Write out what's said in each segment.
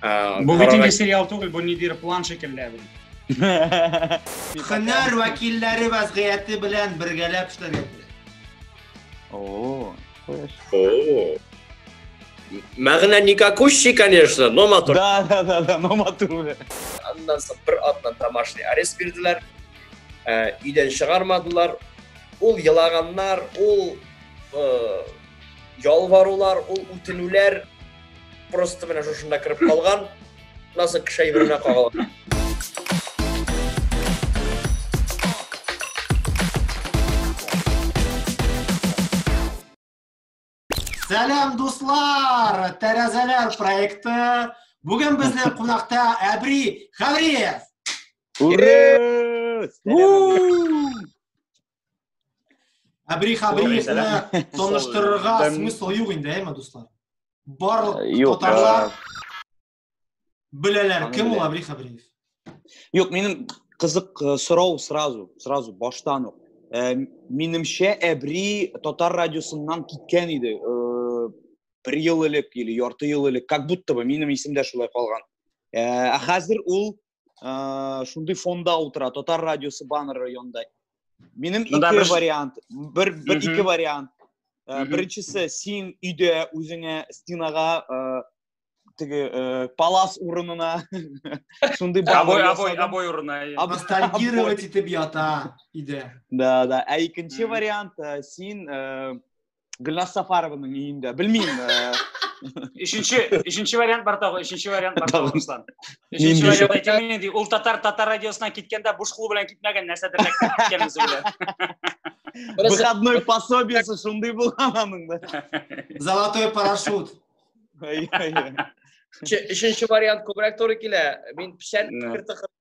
Э, бу бит инде сериал түгел, бу ниндидер план шикелле бит. Хөнәр вәкилләре вазгыяте белән бергәләп эшләргә кирәк. О. О. Мәгънә никакущий, конечно, но матур. Да, да, да, да, но матур. Аннан соң бер атнан тамашный арест бирделәр. Э, өйдән чыгармадылар. Ул елаганнар, ул э, ялварулар, ул үтенүләр просто менә шушында кереп калган насык кеше әйберенә кагылган Сәлам, дуслар! Тәрәзәләр проекты. Бүген безне кунакта Әбри Хавриев. Ура! Абрих Абрихны таныштырырга смысл юк инде, әйме, дуслар? Барлык татарлар беләләр, кем ул Абрих Абриев? Юк, минем кызык э, сорау сразу, сразу баштан ук. Э, минемчә, Әбри татар радиосыннан киткән иде. Э, бер ел элек или ярты ел элек, как будто бы минем исемдә шулай калган. Ә хәзер ул ә, шундый фонда утыра татар радиосы баннеры янында минем ну, ике бір... вариант бер бер ике вариант ә, беренчесе син өйдә үзеңә стенага ә, теге ә, палас урынына шундый обой обой обой урынына абстрагировать итеп ята өйдә да да ә икенче вариант ә, син ә, Гүлназ Сафарованың өендә. Белмим. Өченче, өченче вариант бар тагы, өченче вариант бар тагы Руслан. Өченче вариант әйтәм инде, ул татар татар радиосына киткәндә буш кул белән китмәгән, нәрсәдер ләккән киткән үзе белән. Выходной пособиесе шундый булган аның да. Золотой парашют. Өченче вариант күбрәк туры килә. Мин печән кертә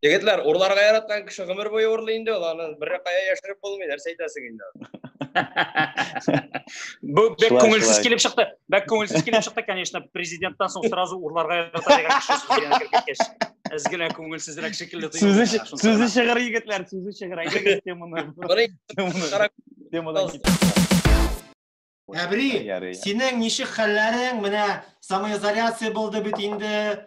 Егетләр, урларга яраткан кеше гомер буе урлый инде ул, аны бер кая яшереп булмый, нәрсә әйтәсең инде. Бу бик күңелсез килеп чыкты. Бик күңелсез килеп чыкты, конечно, президенттан соң сразу урларга ярата дигән кеше сүзгә кергәч. Әз генә күңелсезрәк шикелле тоелды. Сүзе чыгыр егетләр, сүзе чыгыр. Әйдәгез теманы. Темадан Әбри, синең ничек хәлләрең? Менә самоизоляция булды бит инде.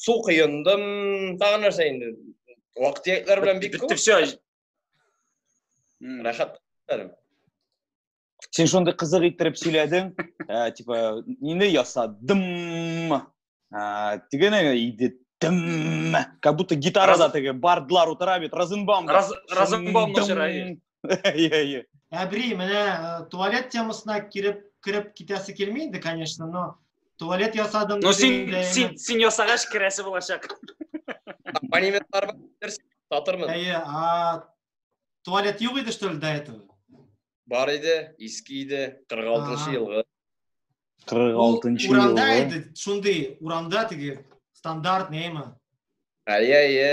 Су кыйындым, тагы нәрсә инде. Вакыт яклар белән бик күп. Битте все. Рәхәт. Син шундый кызык иттереп сөйләдең, ә, э, типа, нине ясадым, ә, э, тигене иде тым, как будто гитарада теге бардлар утыра бит, Розенбаум. Розенбаум начарай. Әйе, әйе. Әбри, менә э, туалет темасына киреп киреп китәсе килми инде, конечно, но туалет ясадым. Ну син син син ясагач керәсе булачак. Абонементлар бар, татырмын. Әйе, а туалет юк иде что ли до этого? Бар иде, иске иде, 46 елгы. 46 елгы. Урамда иде, шундый урамда теге стандарт неме? Әйе, әйе.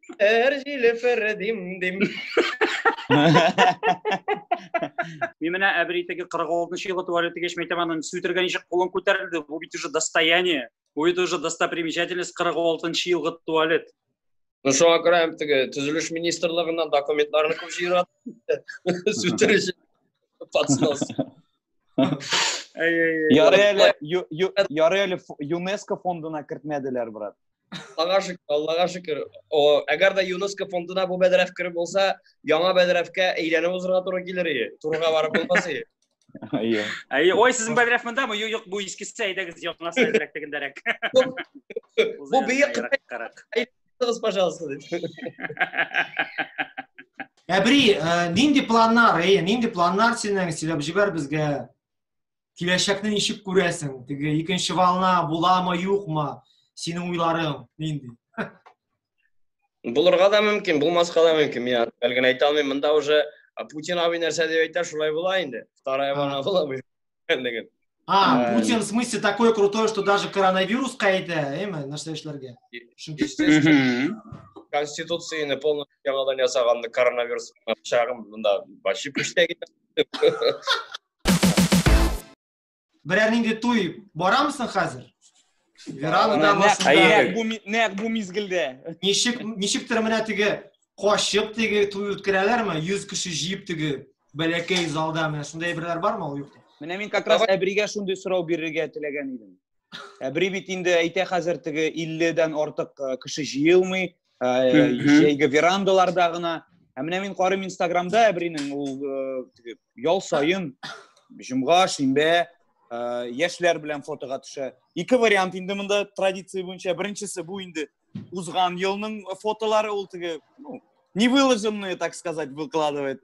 Эрҗиле фәрдим дим. Мин менә әбритеге 46 елы туалет дигәч, мәйтәм аны сүтергән ничек кулын күтәрелде. Бу бит уже достояние. Бу бит уже достопримечательность 46 елгы туалет. Ну шуңа күрә һәм теге төзелеш министрлыгыннан документларны күп җыйрат. Сүтергәч подснос. Ярый әле ЮНЕСКО фондына кертмәделәр, брат. Аллага шөкер, Аллага шөкер. О, әгәр дә ЮНЕСКО фондына бу бәдрәф кереп булса, яңа бәдрәфкә әйләнеп узырга туры килер иде. Турыга барып булмас иде. Әйе. Әйе, ой, сезнең бәдрәф монда мы Юк, бу искесе әйдәгез, яңасы әзрәк тегендәрәк. Бу бия кырыгыз, пожалуйста. Әбри, э, нинди планнар, әйе, нинди планнар синең сөйләп җибәр безгә? киләчәкне ничек күрәсең теге икенче волна буламы юкмы синең уйларың нинди булырга да мөмкин булмаска да мөмкин мин әле генә әйтә алмыйм монда уже путин абый нәрсә дип әйтә шулай була инде вторая волна була белгәнлеген А, Путин в смысле такой крутой, что даже коронавирус кайта, эме, нәрсә эшләргә? Конституцияне полностью яңадан ясаганны коронавирус чагым мында башып эштәге. Берәр нинди туй барамысың хәзер? Верана да Нәкъ бу нәкъ бу мизгелдә. Ничек ничектер менә теге качып теге туй үткәрәләрме? 100 кеше җыеп теге бәләкәй залда менә шундый әйберләр бармы ул юкта? Менә мин как раз Әбригә шундый сорау бирергә теләгән идем. Ә бер бит инде әйтә хәзер теге 50-дән артык э, кеше җыелмый, э, җәйге верандаларда гына. Ә менә мин карыйм Инстаграмда Әбринең ул э, теге ял саен җомга, шимбә яшьләр белән фотога төшә. Ике вариант инде монда традиция буенча. Беренчесе бу инде узган елның фотолары ул теге, ну, не выложенные, так сказать, выкладывает.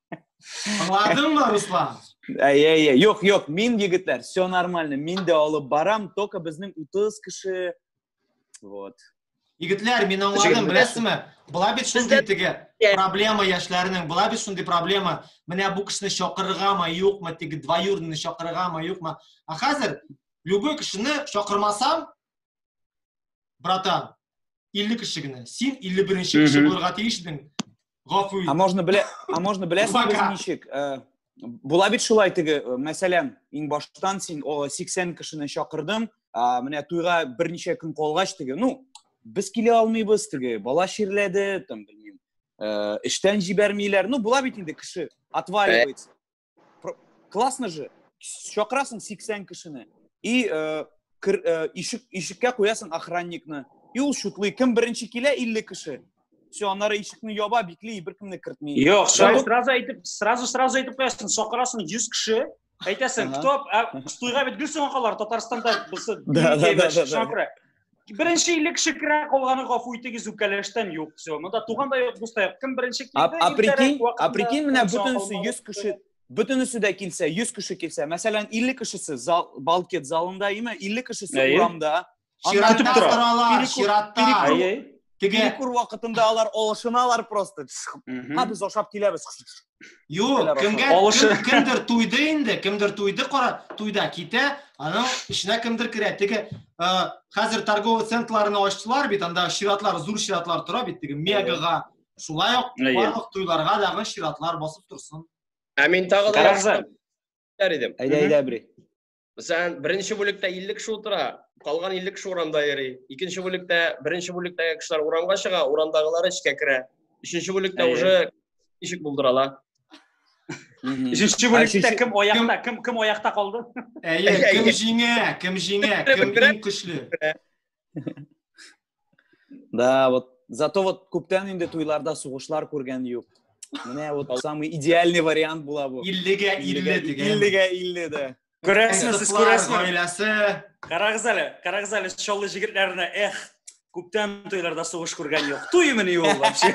Аңладың мы, Руслан? Әй, әй, әй, юк, юк, мин, егетләр, все нормально, мин дә алып барам, только безнең 30 кеше, вот. Егетләр, мин аңладым, беләсезме? Була бит шундый теге проблема яшьләрнең, була бит шундый проблема. Менә бу кешене чакырыргамы, юкмы, теге двоюродныйны чакырыргамы, юкмы? А хәзер любой кешене чакырмасам, братан, 50 кеше генә. Син 51-нче кеше булырга тиеш идең. Гафу ит. А можно белә, а можно беләсең без ничек? Э, була бит шулай теге, э, мәсәлән, иң баштан син 80 кешене чакырдың, менә туйга берничә көн калгач теге, ну, без килә алмыйбыз теге, бала чирләде, там, белмим, э, эштән җибәрмиләр. Ну, була бит инде кеше, отваливается. классно же чакырасың сиксән кешене и э, э, ишек ишеккә куясың охранникны и ул шутлый кем беренче килә илле кеше все аннары ишекне яба бикли беркемне кертми юк сразу әйтеп сразу сразу әйтеп куясың чакырасың йөз кеше әйтәсең кто туйга бит гел соңгы калалар татарстанда Беренче илле кеше керә, калганы гафу итегез, үпкәләштән юк. Все. Монда туган да юк, дус та юк. Кем беренче килде? А прикинь, а прикинь менә бөтенесе 100 кеше бөтенесе дә килсә, 100 кеше килсә, мәсәлән, 50 кешесе зал, банкет залында, имә 50 кешесе урамда. Чиратта торалар, чиратта. Перекур вакытында алар алышыналар просто. Һәм без ашап киләбез. Юк, кемгә Алышы... кем, кемдер туйды инде, кемдер туйды, кара, туйда китә, аның эченә кемдер керә. Теге ә, хәзер торговый центрларны ачтылар бит, анда чиратлар, зур чиратлар тора бит, теге мегага. Шулай ук барлык туйларга дагы чиратлар басып торсын. Ә мин тагы да идем. Әйдә, әйдә, бри. Мәсәлән, беренче бүлектә 50 кеше утыра, калган 50 кеше урамда йөри. Икенче бүлектә, беренче бүлектәге кешеләр урамга чыга, урамдагылар эчкә керә. Өченче бүлектә уже ишек булдыралар. Өченче бүлектә кем аякта, кем кем аякта калды? Әйе, кем җиңә, кем җиңә, кем иң көчле? Да, вот зато вот күптән инде туйларда сугышлар күргән юк. Менә вот самый идеальный вариант була бу. 50-гә 50 дигән. 50-гә 50 дә. Күрәсезме, сез күрәсезме? Гаиләсе. Карагыз әле, карагыз әле, чаллы җегетләренә, эх, күптән туйларда сугыш күргән юк. Туймыни ул вообще?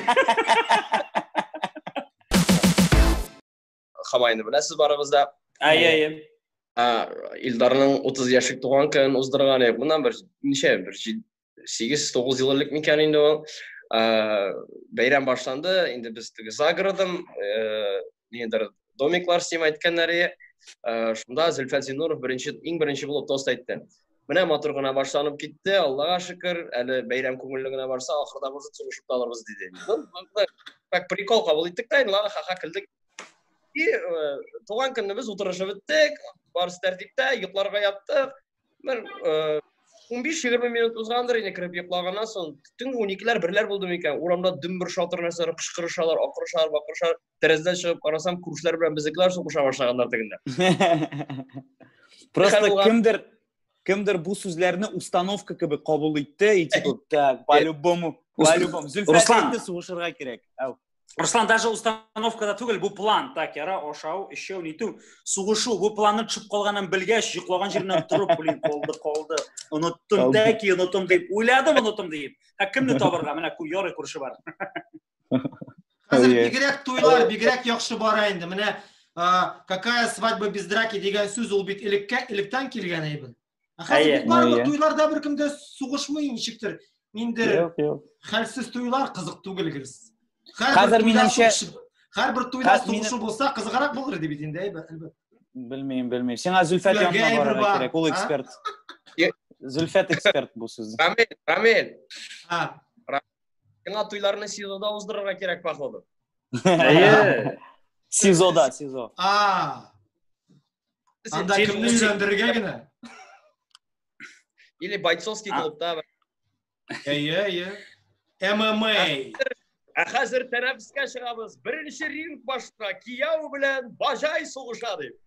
Хамайны беләсез барыгыз да. Әйе, әйе. Илдарның 30 яшьлек туган көнен уздырган идек. Моннан бер ничә бер 8-9 ел элек микән инде ул. Бәйрәм башланды. Инде без теге загородым, э, нидер домиклар сим әйткәннәр иде. Э, шунда Зөлфәт Зинуров беренче иң беренче булып тост әйтте. Менә матур гына башланып китте, Аллага шөкер, әле бәйрәм күңелле генә барса, ахырда может сугышып та алырбыз диде. Как прикол кабул иттек тә, инде ладно, ха-ха көлдек. И э, туган көнебез утырышып үттек, барысы тәртиптә, йокларга яттык. Бер 15-20 э, минут узгандыр инде кереп йоклаганнан соң, төнге 12-ләр, берләр булды микән? Урамда дөмбер шатыр нәрсәләр кычкырышалар, акырышалар, бакырышалар. тәрәзәдән чыгып карасам, күршеләр белән безнекеләр сугыша башлаганнар тегендә. Просто кемдер кемдер бу сүзләрне установка кебек кабул итте и типа так по любому по любому зөлфәтне сугышырга кирәк Руслан, даже установкада түгел, бу план, так, яра, ашау, эчеу, ниту, сугышу, бу планны төшеп калганын белгәч, йоклоган җиреннән торып, блин, колды, колды, оныттым, тәки, оныттым дип, уйладым, оныттым дип. Ә кемне табырга, менә ярый күрше бар. Хәзер бигрәк туйлар, бигрәк яхшы бара инде. Менә какая свадьба без драки дигән сүз ул бит элеккә, электән килгән әйбер. Ә хәзер барлык туйларда беркемдә сугышмый ничектер. Ниндер хәлсез туйлар кызык түгел гелс. Хәзер минемчә һәрбер туйда сугышу булса кызыграк булыр иде бит инде, әлбәттә. Белмим, белмим. Сиңа Зөлфәт янына барырга кирәк, ул эксперт. Зөлфәт эксперт бу сүз. Рамил, Рамил. А. Яңа туйларны СИЗОда уздырырга кирәк, походу. Әйе. СИЗОда, СИЗО. А. Анда кемне өйләндерергә генә? Или бойцовский клубта. Әйе, әйе. ММА. Ә хәзер тәнәфескә чыгабыз. Беренче ринг башына кияү белән бажай сугыша дип.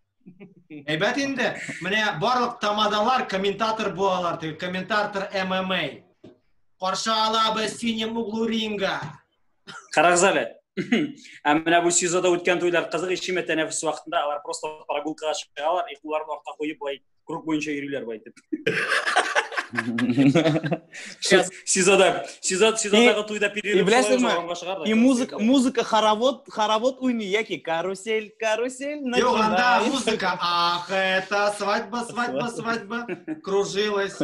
Әйбәт инде. Менә барлык тамадалар комментатор булалар, теге комментатор ММА. Каршы алабыз синем углу ринга. Карагыз әле. Ә менә бу СИЗОда үткән туйлар кызык ишеме тәнәфес вакытында алар просто прогулкага чыгалар, и кулларын артка куеп бай круг буенча йөриләр бу әйтеп. Сизада, сизада, сизадагы туйда перерыв шулай И музыка, музыка хоровод, хоровод уйный яки карусель, карусель. Йо, анда музыка. Ах, это свадьба, свадьба, свадьба. Кружилась.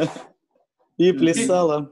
И плясала.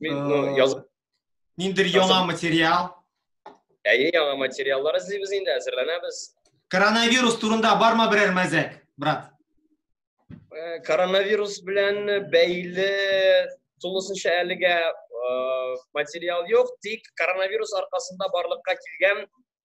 Мин, ну, э, яз... Ниндер яңа материал? Әйе, яңа материаллар эзлибез инде, әзерләнәбез. Коронавирус турында бармы берәр мәзәк, брат? Э, коронавирус белән бәйле тулысынча әлегә э, материал юк, тик коронавирус аркасында барлыкка килгән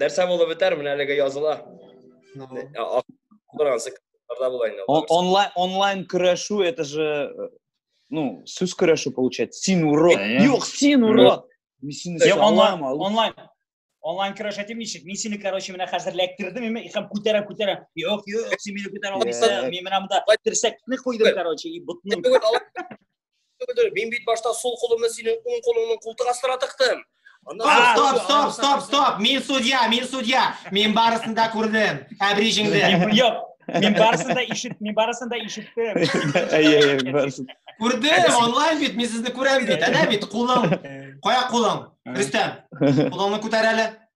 Нәрсә булып бетәр, менә әлеге языла. Акыргансы кызларда була инде. Онлайн онлайн көрәшү, это же э, ну, сүз көрәшү получается. Син урод. Юк, син урод. Мин сине салам алып. Онлайн онлайн көрәш әйтим ничек мин сине короче менә хәзер эләктердем ме һәм күтәрәм күтәрәм юк юк син мине күтәрә алмыйсың мин менә монда терсәкне куйдым короче и ботны Мин бит башта сул кулымны синең уң кулыңның култык астына тыктым. Стоп, стоп, стоп, стоп, стоп. Мин судья, мин судья. Мин барысын да күрдем. Әбрижеңдә. Юк. Мин барысын да ишет, мин барысын да ишеттем. Әйе, әйе, барысын. Күрдем, онлайн бит, мин сезне күрәм бит. Әнә бит, кулың. Кая кулың? Рөстәм. Кулыңны күтәр әле.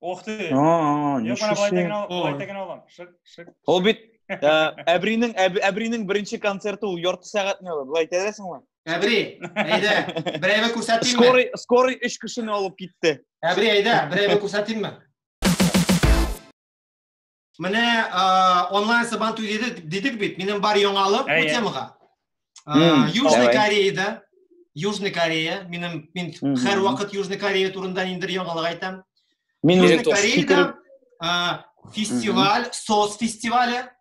Ох ты. А, Юк, менә болай тәген алам, болай тәген алам. Шык, шык. Ул бит Әбринең Әбринең беренче концерты ул ярты сәгатьне ала. Болай әйтәсеңме? Әбри, әйдә, берәйгә күрсәтимме? Скорый, скорый 3 кешене алып китте. Әбри, әйдә, берәйгә күрсәтимме? Менә онлайн сабан түледе дидек бит, минем бар яңалык бу темага. Южный Кореяда, Южный Корея, минем мин һәр вакыт Южный Корея турында ниндер яңалык айтам. Мин Южный Кореяда фестиваль, сос фестивале.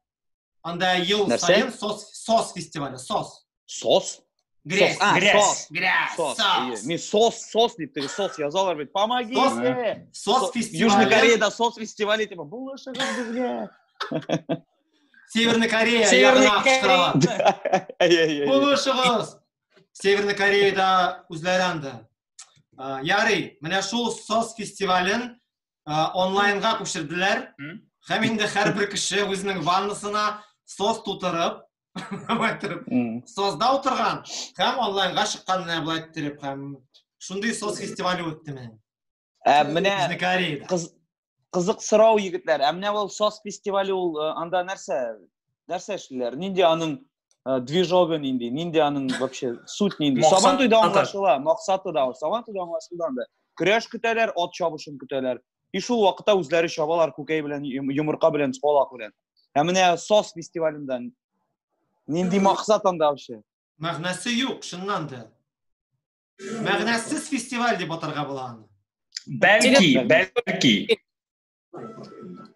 Анда ел сайын сос сос фестивале, сос. Сос? Грязь, сос. А, грязь, сос. грязь, сос. сос. Не сос, сос, не ты сос. Я зал говорит, помоги сос, мне. Сос фестиваль. Южная Корея, да, сос фестиваль, типа, булыша безгә. Северная Корея, Северная Корея. Булышыгыз. Северная Кореяда үзләре анда. Ярый, менә шул сос фестивален онлайнга күчерделәр. Һәм инде һәрбер кеше үзенең ваннасына сос тутырып, былай торып созда утырган һәм онлайнга чыккан менә былай торып һәм шундый соз фестивале үтте менә ә менә кызык сорау егетләр ә менә ул соз фестивале ул анда нәрсә нәрсә эшлиләр нинди аның движогы нинди нинди аның вообще суть нинди сабан туйда аңлашыла максаты да сабан туйда аңлашылды анда көрәш көтәләр ат чабышын көтәләр И шул вакытта үзләре чабалар күкәй белән, йомырка белән, чалак белән. Ә менә СОС фестивалендә нинди максат анда вообще? Мәгънәсе юк, чыннан да. Мәгънәсез фестиваль дип атарга була аны. Бәлки, бәлки.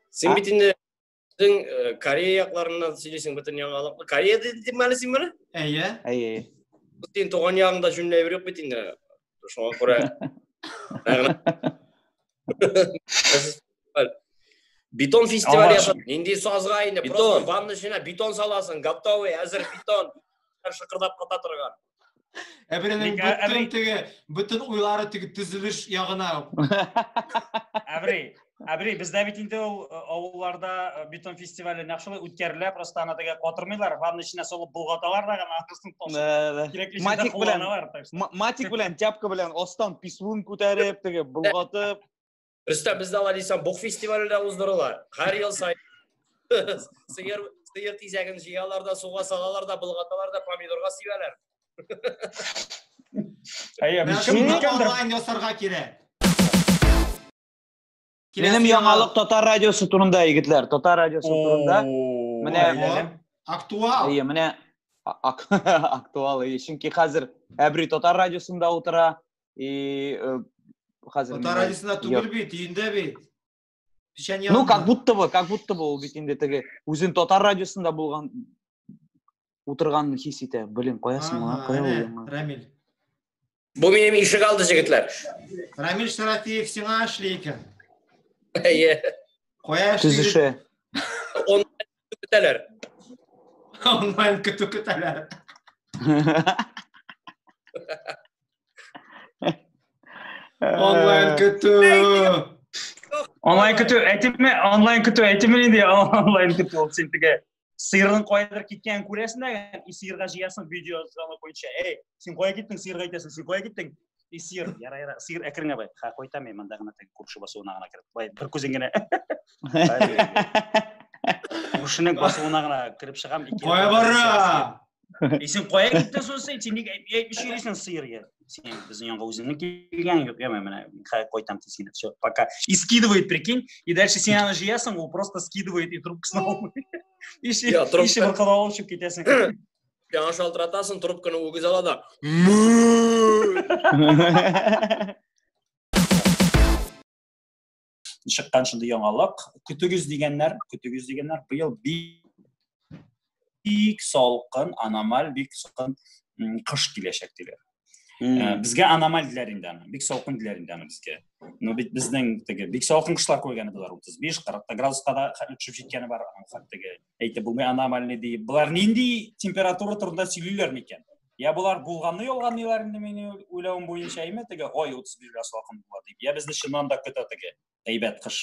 Син бит инде Син э, Корея якларыннан сөйлисең бөтен яңалыкны. Корея дидем әле син моны? Әйе. Әйе. Син туган ягыңда җүнле әйбер юк бит инде. Шуңа күрә. Бетон фестивале ясап, нинди сазга инде, просто ванна эченә бетон саласың, готовый, әзер бетон. Шыкырдап ката торган. Әбренең бөтен теге, бөтен уйлары теге төзелеш ягына. Әбри, Әбри, бездә бит инде ул э, авылларда э, бетон фестивале нәкъ шулай үткәрелә, просто аны теге катырмыйлар, ванна эченә салып булгаталар да гына аркасын ташып. Матик белән, матик белән, тяпка белән астан писун күтәреп, теге булгатып. Өстә бездә алай дисәң Бух фестивале дә уздырыла. Һәр ел сай. Сыер сыер тизәген җыялар да, суга салалар да, болгаталар да, помидорга сибәләр. Әйе, без кем икәндер? Онлайн ясарга кирәк. Минем яңалык татар радиосы турында, егетләр, татар радиосы турында. Менә актуал. Әйе, менә актуал, чөнки хәзер Әбри татар радиосында утыра. И э, хәзер Татар радиосында түгел бит, өендә бит. Печән Ну, как будто бы, как будто бы ул бит инде теге үзен татар радиосында булган утырганын хис итә. Блин, каясың ма? Кая ул? Рамиль. Бу минем ишек алды җегетләр. Рамиль Шарафиев сиңа эшли икән. Әйе. Кая эшли? Төзеше. Көтәләр. Онлайн көтү көтәләр. Онлайн көтү. Онлайн көтү әйтеме, онлайн көтү әйтеме нинди онлайн көтү ул син теге сыерның кайдыр киткәнен күрәсең дә, и сыерга җыясың видео звонок буенча. Эй, син кая киттең, сыерга әйтәсең, син кая киттең? И сыер, яра, яра, сыер әкрен бай. Ха, койта мен монда гына теге күрше басуына гына кереп. Бай, бер күзен генә. Күршенең басуына гына кереп чыгам. Кая бара? И син кая киттең соң син? Син нигә әйтмичә йөрисең сыер я? Син безнең янга үзеңне килгән юк, я менә ха койтам тизгенә. Все, пока. И скидывает, прикинь. И дальше син аны җыясың, ул просто скидывает и трубкасын алмый. Иши, иши бер кадалып чыгып китәсең. Яңа шалтыратасың, трубканы үгез ала да. Чыккан шундый яңалык. Көтүгез дигәннәр, көтүгез дигәннәр. Быел бик салкын, аномаль бик салкын кыш киләчәк диләр. Э, бізге аномаль диләр инде аны бик салкын диләр инде аны бізге но бит безнең теге бик салкын кышлар күргәне болар отыз биш кырыкта градуска да төшеп җиткәне бар хәттеге әйтеп булмый аномальный диеп болар нинди температура турында сөйлиләр микән я болар булганны ялганлыйлар инде минем уйлавым буенча әйме теге ой утыз бир градус якын була дип я безне чыннан да көтә теге әйбәт кыш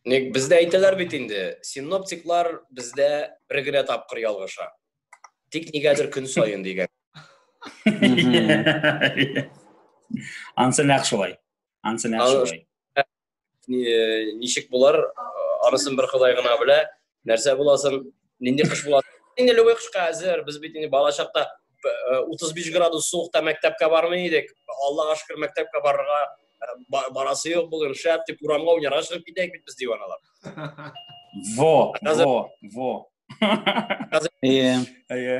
ник бездә әйтәләр бит инде синоптиклар бездә бер генә тапкыр ялгыша тик нигәдер көн саен дигән ансы нәкъ шулай ансы нәкъ шулай ничек булар анысын бер ходай гына белә нәрсә буласын нинди кыш була инде любой кышка әзер без бит инде бала чакта утыз биш градус суыкта мәктәпкә бармый идек аллага шөкер мәктәпкә барырга барасы юк бүген шәп дип урамга уйнарга чыгып китәйек бит без диваналар во во во әйе әйе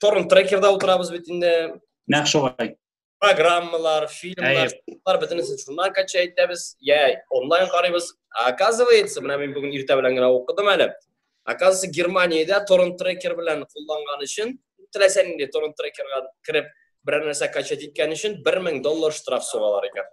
торрент трекерда утырабыз бит инде нәкъ шулай программалар фильмлар бар бөтенесе шуннан кача итәбез я онлайн карыйбыз оказывается менә мин бүген иртә белән генә укыдым әле оказывается германиядә торрент трекер белән кулланган өчен теләсә нинди торрент трекерга кереп берәр нәрсә качать иткән өчен бер мең доллар штраф сугалар икән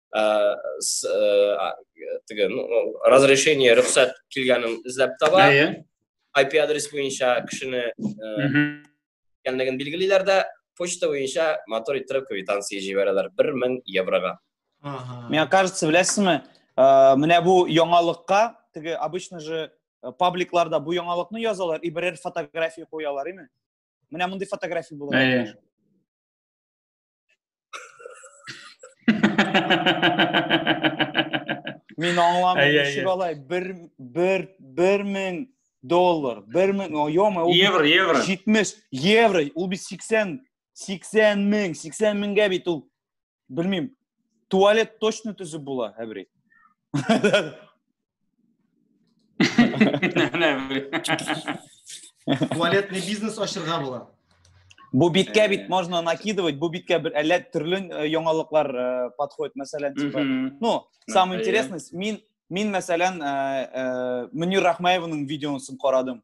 ә, с, ә, теге, ну, разрешение, рөхсәт килгәнен эзләп таба. IP адрес буенча кешене икәнлеген билгелиләр дә, почта буенча мотор иттереп квитанция җибәрәләр 1000 еврога. Ага. Мне кажется, беләсезме, менә бу яңалыкка, теге обычно же пабликларда бу яңалыкны язалар и берәр фотография куялар, име? Менә мондый фотография булган. Мин аңламыйм, ничек алай бер бер бер мең доллар, бер мең, йома, ул евро, евро. 70 евро, ул бит 80 80 мең, 80 меңгә бит ул белмим. Туалет точно төзеп була, әбри. Туалетный бизнес ашырга була. Бу биткә бит можно накидывать, бу биткә бер әллә төрле э, яңалыклар э, подходит, мәсәлән, типа. Ну, самое интересное, мин мин мәсәлән, э, Мөнир Рахмаевның видеосын карадым.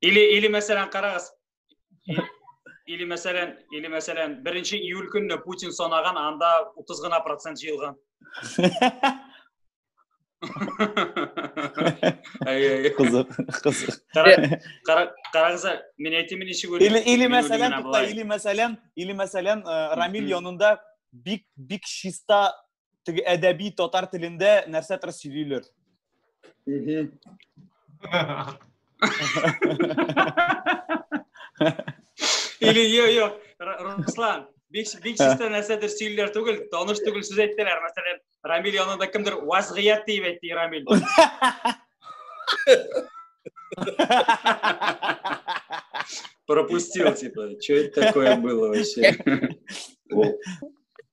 Или, или мәсәлән, карагыз. Или мәсәлән, или мәсәлән, 1 июль көнне Путин санаган, анда 30 гына процент җыелган. Кызык, кызык. Карагыз, мин әйтәм ничек Или, или мәсәлән, или мәсәлән, или мәсәлән, Рамил янында бик бик чиста теге әдәби татар телендә нәрсәдер сөйлиләр. Или йо йо Руслан, бик бик чиста нәрсәдер сөйлиләр түгел, таныш түгел сүз әйттеләр. Мәсәлән, Рамил янында кемдер вазгыят дип әйтте Рамил. Пропустил, типа, что это такое было вообще?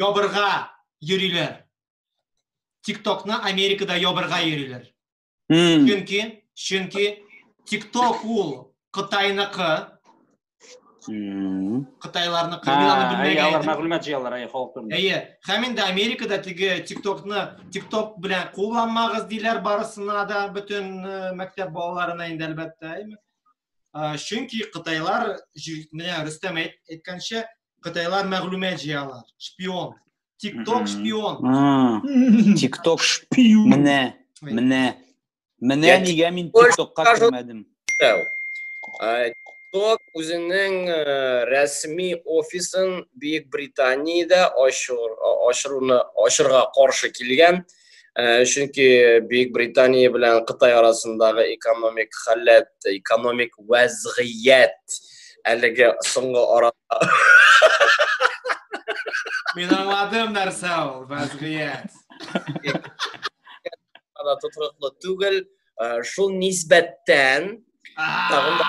ябырга йөриләр. Тиктокны Америкада ябырга йөриләр. Mm. Чөнки, чөнки Тикток ул Кытайныкы. Mm. Кытайларныкы. Мин аны белмәгән. Алар мәгълүмат җыялар, әй, халык турында. Әйе. Һәм инде Америкада теге Тиктокны Тикток белән кулланмагыз диләр барысына да, бөтен э, мәктәп балаларына инде әлбәттә, әйме? Чөнки Кытайлар, менә Рөстәм әйткәнчә, Кытайлар мәгълүмат җыялар. Шпион. Тикток шпион. Тикток шпион. Менә, менә. Менә нигә мин тиктокка кермәдем. Тикток үзенең э, рәсми офисын Бөек Британиядә ачыруны ачырга каршы килгән. Э, чөнки Бөек Британия белән Кытай арасындагы экономик халәт, экономик вәзгыять әлеге соңгы арада Мин аңладым нәрсә ул вәзгыять. Ана тотрыклы түгел, э, шул нисбәттән тагын да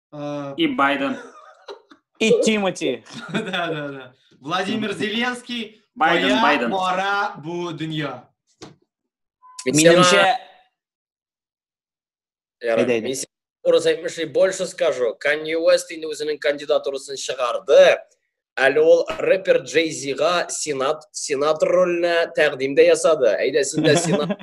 А, И Байден. И Тимати. Да, да, да. Владимир Зеленский. Байден, Моя Байден. мора бу дөнья. Минемчә, Ярар, Әйдә, әйдә. мин сиңа дөрес әйтмешли, больше скажу. Kanye West инде үзенең кандидатурасын чыгарды. Әле ул рэпер Джей Зига сенат, сенатор роленә тәкъдим дә ясады. Әйдә, син дә сенат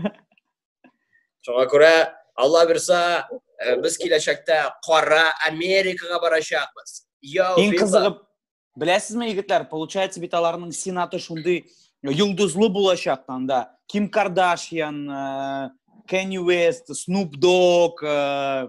Шуңа күрә Алла бирса, э, без киләчәктә кара Америкага барачакбыз. Иң кызыгып, беләсезме, егетләр, получается бит аларның сенаты шундый йолдызлы булачак анда. Ким Кардашьян, э, Кенни Уэст, Снуп Дог, э,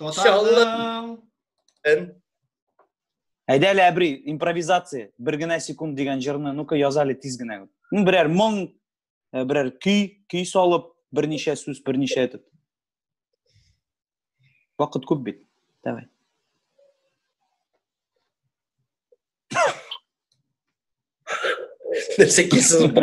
Тоталың. Эн. Әйдә әле әбри, импровизация, бер генә секунд дигән җырны, ну-ка яз әле тиз генә. Ну, берәр моң, э, берәр көй, көй салып, берничә сүз, берничә итеп. Вакыт күп бит. Давай. Нәрсә кисез бу?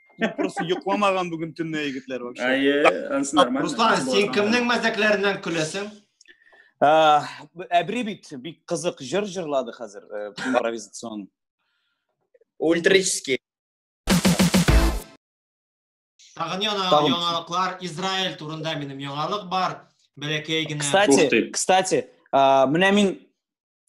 просто йокламаган бүген төнне егетләр вообще әйе анысы нормально руслан сен кемнең мәзәкләреннән көләсең әбри бит бик кызык җыр җырлады хәзер импровизацион ультрический тагын яңалыклар израиль турында минем яңалык бар бәләкәй генә кстати кстати менә мин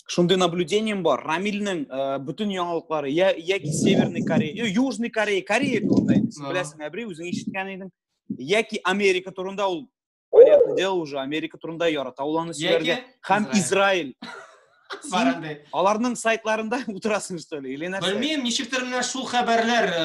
шундый наблюдением бар рамилнең ә, э, бөтен яңалыклары я яки северный корея э, южный корея корея турында инде син беләсең әбри үзең ишеткән идең яки америка турында ул понятное дело уже америка турында ярата ул аны сөйләргә һәм израиль бар андый аларның сайтларында утырасың что ли или нәрсә белмим ничектер менә шул хәбәрләр э,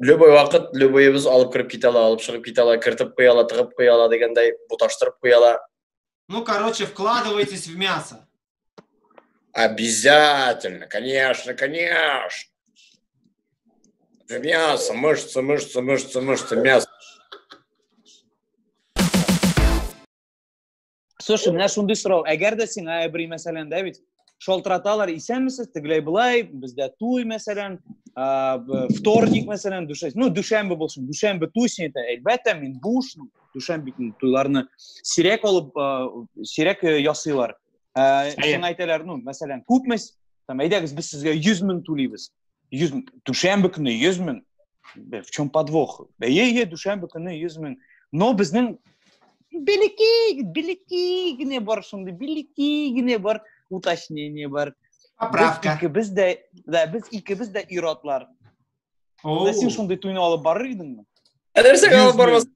любой вакыт любыйыбыз алып кереп китә ала алып чыгып китә ала кертеп куя ала тыгып куя ала дигәндәй буташтырып куя ала ну короче вкладывайтесь в мясо обязательно конечно конечно в мясо мышцы мышцы мышцы мышцы мясо слушай менә шундый сорау әгәр дә сиңа әбри мәсәлән да бит шалтыраталар исәнмесез тегеләй былай бездә туй мәсәлән вторник мәсәлән дүшәмбе ну дүшәмбе булсын дүшәмбе туй син әйтә әлбәттә мин буш дүшәмбе көнне туйларны сирәк алып сирәк э, ясыйлар сиңа әйтәләр ну мәсәлән күпме там әйдәгез без сезгә йөз мең түлибез 100 мең дүшәмбе көне 100 мең в чем подвох бәйе е дүшәмбе көне 100 мең но безнең белекей белекей генә бар шундый белекей генә бар уточнение бар поправка икебез дә да без икебез дә ир-атлар син шундый туйны алып барыр идеңме нәрсәгә алып бармас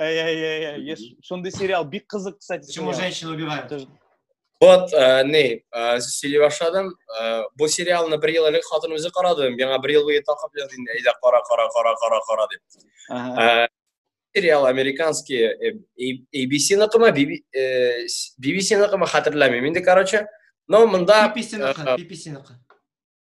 Эй-эй-эй, шундый сериал бик кызык, кстати. Почему женщины убивают? Вот, э, не, э, сөйли башладым. Э, бу сериалны бер ел элек хатын үзе карады. Миңа бер ел буе такып язды инде. Әйдә, кара, кара, кара, кара, кара дип. Э, сериал американский э, ABC-ныкымы, BBC-ныкымы э, хәтерләмим инде, короче. Но монда BBC-ныкы, BBC-ныкы.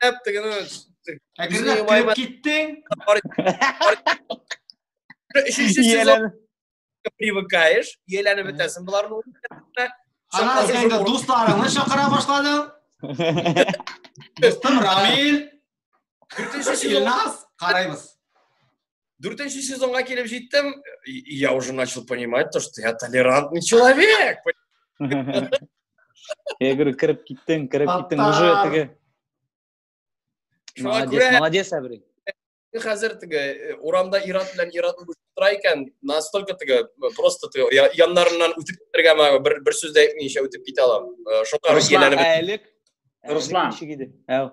Әптегенә. Әгерләп кереп киттең. Өченче сезон привыкаешь, ияләнеп бетәсең боларны. Аннан син инде дусларыңны чакыра башладың. Дустым Рамил. Дүртенче сезон. Илназ, карайбыз. Дүртенче сезонга килеп җиттем, я уже начал понимать то, что я толерантный человек. Я говорю, кереп киттең, кереп киттең, уже теге. Молодец, молодец, Әбри. Хәзер теге э, урамда ират белән ират булып тора икән, настолько теге э, просто теге яннарыннан үтеп китәргә бер бер сүз дә әйтмичә үтеп китә алам. Э, Шуңа Руслан, Руслан. Әү.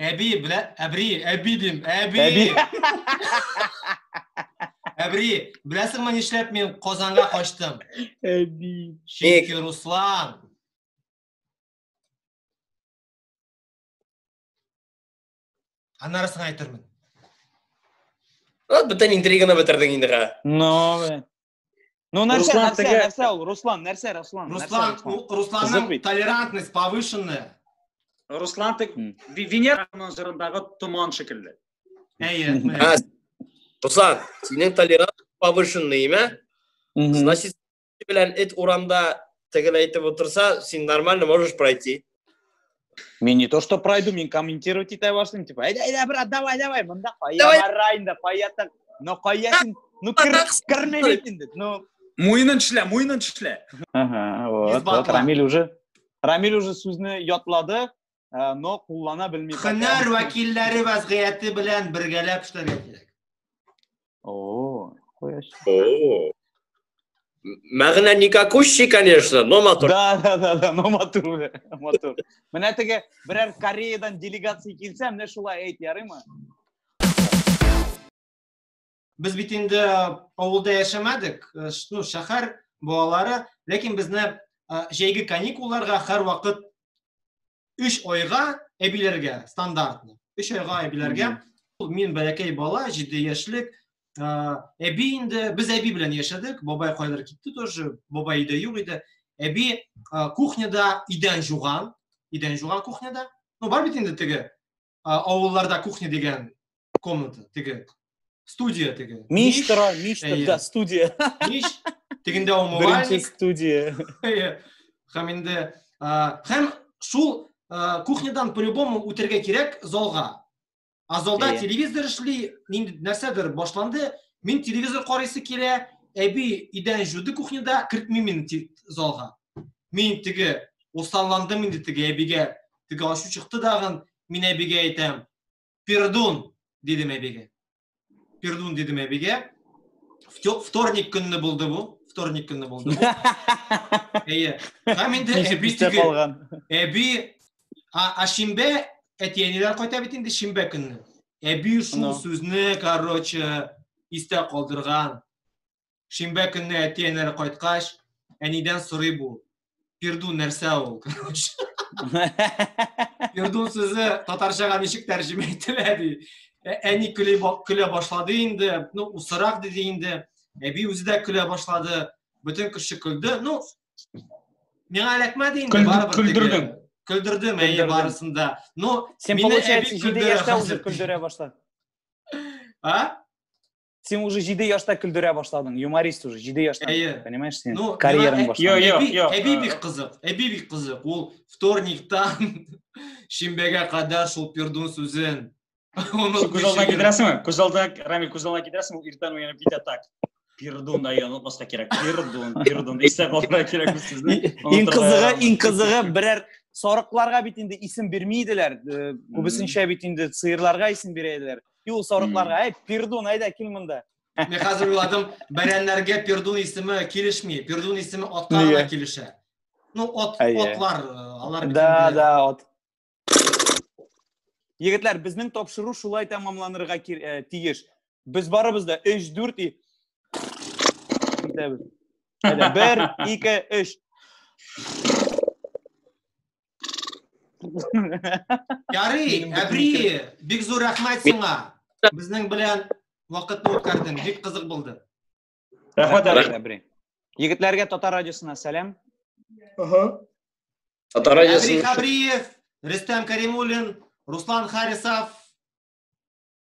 Әби белә, әбри, әби дим, әби. Әби. Әбри, беләсеңме нишләп мин Казанга качтым? Әби. Чөнки Руслан. Аннарысын әйтермен. Вот бүтән интриганы бетердең инде га. Ну, бе. Ну, нәрсә, Руслан, нәрсә, теге- нәрсә ул? Руслан, нәрсә, Руслан? нәрсә, Руслан, Руслан? у- Русланның Кызык бит. толерантность повышенная. Руслан тек М. Ви- Венераның җырындагы томан шикелле. Әйе, Мгм. менә. Ә, Руслан, синең толерант повышенный, имә? Мгм. Значит, белән эт урамда тегел әйтеп утырса, син нормально можешь пройти. Мин не то, что пройду, мин комментировать итә башлыйм, типа, әйдә, әйдә, брат, давай, давай, монда кая бара инде, кая так, но кая син, ну, кермә бит инде, ну. Муенын эшлә, муенын эшлә. Ага, вот, вот, Рамиль уже, Рамиль уже сүзне ятлады, э, но куллана белми һөнәр вәкилләре вәзгыяте белән бергәләп эшләргә кирәк о мәгънә никакущий конечно но матур да да да да но матур матур менә теге берәр кореядан делегация килсә менә шулай әйт ярыймы Без бит инде авылда яшәмәдек, э, ну, шәһәр балалары, ләкин безне э, җәйге каникулларга һәр вакыт 3 айга әбиләргә стандартны. 3 айга әбиләргә. Ул мин бәләкәй бала, 7 яшьлек, э, әби инде без әби белән яшәдек, бабай кайдыр китте тоже, бабай иде юк иде. Әби кухняда идән жуган, идән жуган кухняда. Ну, бар бит инде теге авылларда кухня дигән комната теге студия теге миш тора миш да студия миш тегендә умывальник студия һәм инде һәм шул кухнядан по любому үтәргә кирәк залга а залда телевизор эшли нинди нәрсәдер башланды мин телевизор карыйсы килә әби идән жуды кухняда кертмим мин залга мин теге усалландым инде теге әбигә Теге ачу чыкты дагын, мин әбигә әйтәм, пердун, дидем әбигә. Пердун дидем әбигә. Вторник көнне булды бу. Вторник көнне булды. Әйе. Һәм инде әби теге. Әби а шимбә әти-әниләр кайта бит инде шимбә көнне. Әби шул сүзне, короче, истә калдырган. Шимбә көнне әти-әнәре кайткач, әнидән сорый бу. Пирду нәрсә ул? Пирду сүзе татарчага ничек тәрҗемә ителә ди. Ә- Әни көле ба- көлә башлады инде. Ну, усырак диде инде. Әби үзе дә көлә башлады. Бөтен кеше көлде. Ну, миңа эләкмәде инде Көлдер- барыбер. теге. көлдердең. Көлдердем, әйе, Көлдердең. барысын да. Ну, Син, Мине получается, әби җиде көлдерә яшьтә хәзер. уже көлдерә башлады. а? сен уже җиде яшьтә көлдерә башладың юморист уже җиде яшьтә әйе понимаешь сен ну, карьераң башлады әби бик кызык әби бик кызык ул вторниктан шимбәгә кадәр шул пердун сүзен күз алдына китерәсеңме күз алдына рамил күз алдына китерәсең ул иртән уянып китә так пердун да онытмаска кирәк пердун пердун истә калдырырга кирәк бу сүзне иң кызыгы иң кызыгы берәр сарыкларга бит инде исем бирми иделәр күбесенчә бит инде сыерларга исем бирә иделәр Юл сарыкларга, әй, пердун, әйдә, кил монда. Мен хәзер уйладым, бәрәннәргә пердун исеме килешми. Пердун исеме атка гына килешә. Ну, от, отлар, алар Да, да, от. Егетләр, безнең тапшыру шулай тәмамланырга э, тиеш. Без барыбыз да 3-4 и итәбез. Әйдә, 1, 2, 3. Ярый, Әбри, бик зур рәхмәт сиңа. Безнең белән вакытны үткәрдең. Бик кызык булды. Рәхмәт, Әбри. Егетләргә Татар радиосына сәлам. Ага. Татар радиосына. Әбри Хабриев, Рөстәм Каримуллин, Руслан Харисов,